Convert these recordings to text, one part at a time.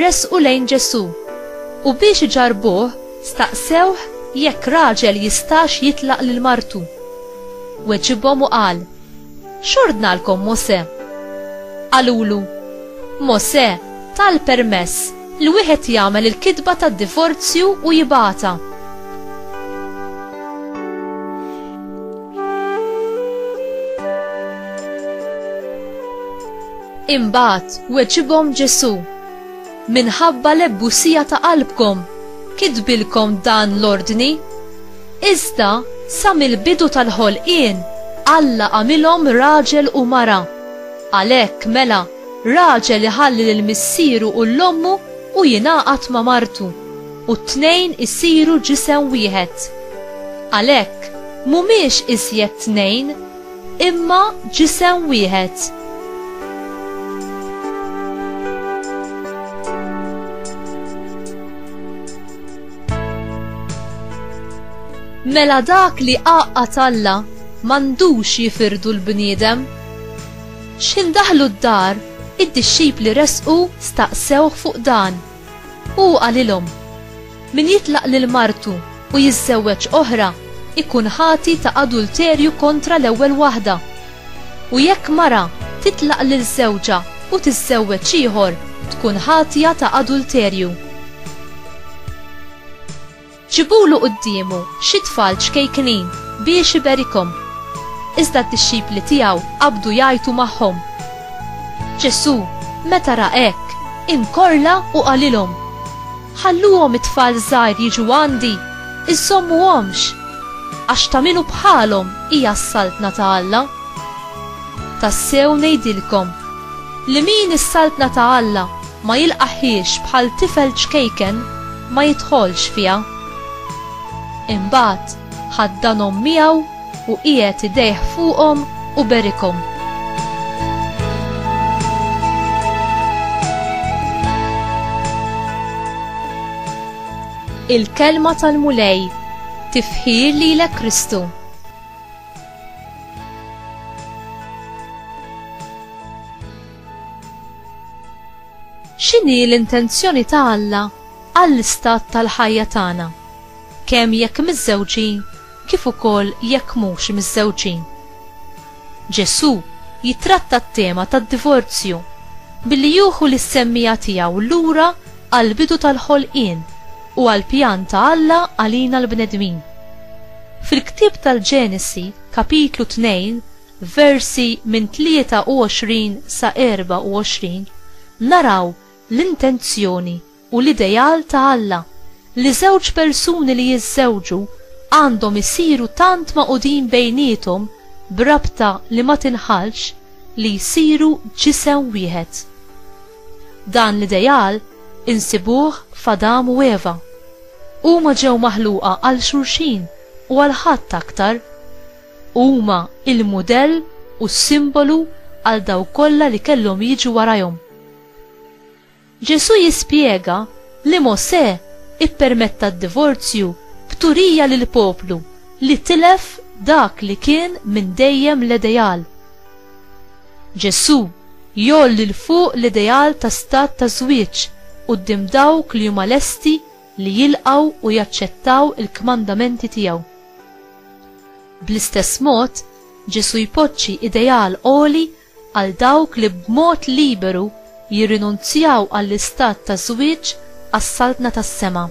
Resqu lejn Ġesù, u biex iġarrbuh, staqsewh jekk raġel jistax jitlaq lil martu. Weġibhom u qal, X'ordnalkom Mosè? Qalulu, Mosè ta l-permess li wieħed jagħmel il-kitba tad-divorzju u jibgħatha. Imbagħad weġibhom Ġesù, Minħabba l-ebusija ta' qalbkom kitbilkom dan l-ordni. Iżda sa mill-bidu tal-ħolqien Alla għamilhom raġel u mara. Għalhekk, mela, raġel iħalli lil missieru u 'l ommu u jingħaqad ma' martu, u t-tnejn isiru ġisem wieħed. Għalhekk, m'humiex iżjed tnejn, imma ġisem wieħed. Mela dak li qaqqa talla mandux jifirdu l-bniedem. Xin daħlu d-dar, id-dixxipli resqu staqsewh fuq dan. U hu qalilhom, Min jitlaq lil martu u jiżżewweġ oħra jkun ħati ta' adulterju kontra l-ewwel waħda. U jekk mara titlaq lil żewġha u tiżżewweġ ieħor tkun ħatja ta' adulterju. Ġibulu quddiemu xi tfal ċkejknin biex iberikhom. Iżda d-dixxipli tiegħu qabdu jgħajtu magħhom. Ġesù, meta ra hekk, inkorla u qalilhom, Ħalluhom it-tfal żgħir jiġu għandi, iżżommuhomx, għax ta' min hu bħalhom hija s-Saltna ta' Alla. Tassew ngħidilkom, li min is-Saltna ta' Alla ma jilqagħhiex bħal tifel ċkejken ma jidħolx fiha. Imbagħad ħaddanhom miegħu u qiegħed idejh fuqhom u berikhom. Il-Kelma tal-Mulej Tifħir lilek Kristu. X'inhi l-intenzjoni ta' Alla għall-istat tal-ħajja tagħna, kemm jekk miżżewġin kif ukoll jekk mhux miżżewġin? Ġesù jittratta t-tema tad-divorzju billi jieħu lis-semmiegħa tiegħu lura għall-bidu tal-ħolqien u għall-pjan ta' Alla għalina l-bnedmin. Fil-ktieb tal-Ġenesi, kapitlu 2, versi minn 23 sa 24, naraw l-intenzjoni u l-ideal ta' Alla li żewġ persuni li jiżżewġu għandhom isiru tant magħqudin bejniethom b'rabta li ma tinħallx li jsiru ġisem wieħed. Dan l-ideal insibuh f'Adam u Eva. Huma ġew maħluqa għal xulxin u għal ħadd aktar. u huma l-mudell u s-simbolu għal dawk kollha li kellhom jiġu warajhom. Ġesù jispjega li Mosè ppermetta d-divorzju b'turija lill-poplu li tilef dak li kien minn dejjem l-ideal. Ġesù jgħolli 'l fuq l-ideal ta' stat ta' żwieġ quddiem dawk li huma lesti li jilqgħu u jaċċettaw il-kmandamenti tiegħu. Bl-istess mod, Ġesù jpoġġi ideal għoli għal dawk li b'mod liberu jirrinunzjaw għall-istat ta' żwieġ għas-Saltna tas-sema.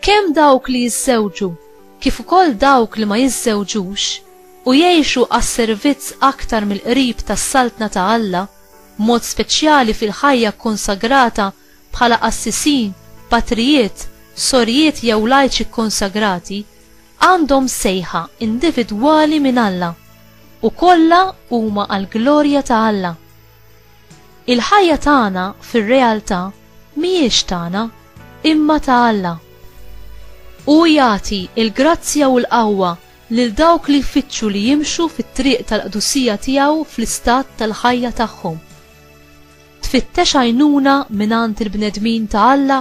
Kemm dawk li jiżżewġu kif ukoll dawk li ma jiżżewġux u jgħixu għas-servizz aktar mill-qrib tas-Saltna ta' Alla, b'mod speċjali fil-ħajja kkonsagrata bħala qassisin, patrijiet, sorijiet jew lajċi kkonsagrati, għandhom sejħa individwali minn Alla, u kollha huma għall-glorja ta' Alla. Il-ħajja tagħna fir-realtà mhijiex tagħna, imma ta' Alla. Hu jagħti l-grazzja u l-qawwa lil dawk li jfittxu li jimxu fit-triq tal-qdusija tiegħu fl-istat tal-ħajja tagħhom. Tfittex għajnuna mingħand il-bnedmin ta' Alla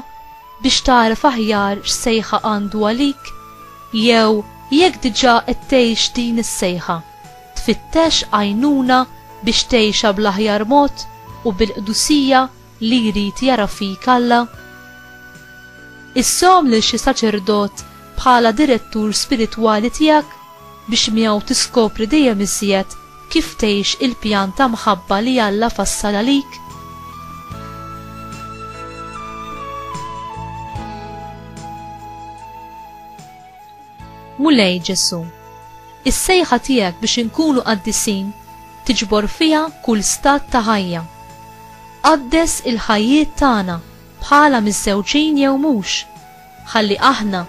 biex tagħraf aħjar x'sejħa għandu għalik? Jew jekk diġà qed tgħix din is-sejħa, tfittex għajnuna biex tgħixha bl-aħjar mod u bil-qdusija li jrid jara fik Alla? Issom lil xi saċerdot bħala direttur spiritwali tiegħek biex miegħu tiskopri dejjem iżjed kif tgħix il-pjan ta' mħabba li Alla fassal għalik. Mulej Ġesù, is-sejħa tiegħek biex inkunu qaddisin tiġbor fiha kull stat ta' ħajja. Qaddes il-ħajjiet tagħna bħala miżżewġin jew mhux, ħalli aħna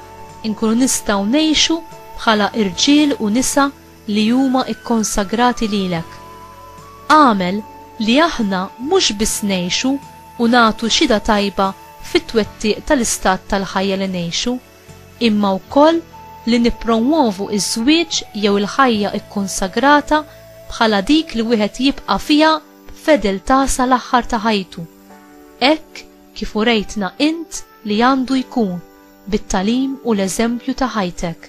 nkunu nistgħu ngħixu bħala irġiel u nisa li huma kkonsagrati lilek. Agħmel li aħna mhux biss ngħixu u nagħtu xhieda tajba fit-twettiq tal-istat tal-ħajja li ngħixu, imma wkoll li nippromwovu ż-żwieġ jew il-ħajja kkunsagrata bħala dik li wieħed jibqa' fiha b'fedeltà sal-aħħar ta' ħajtu, hekk kif urejtna int li għandu jkun bit-tagħlim u l-eżempju ta' ħajtek.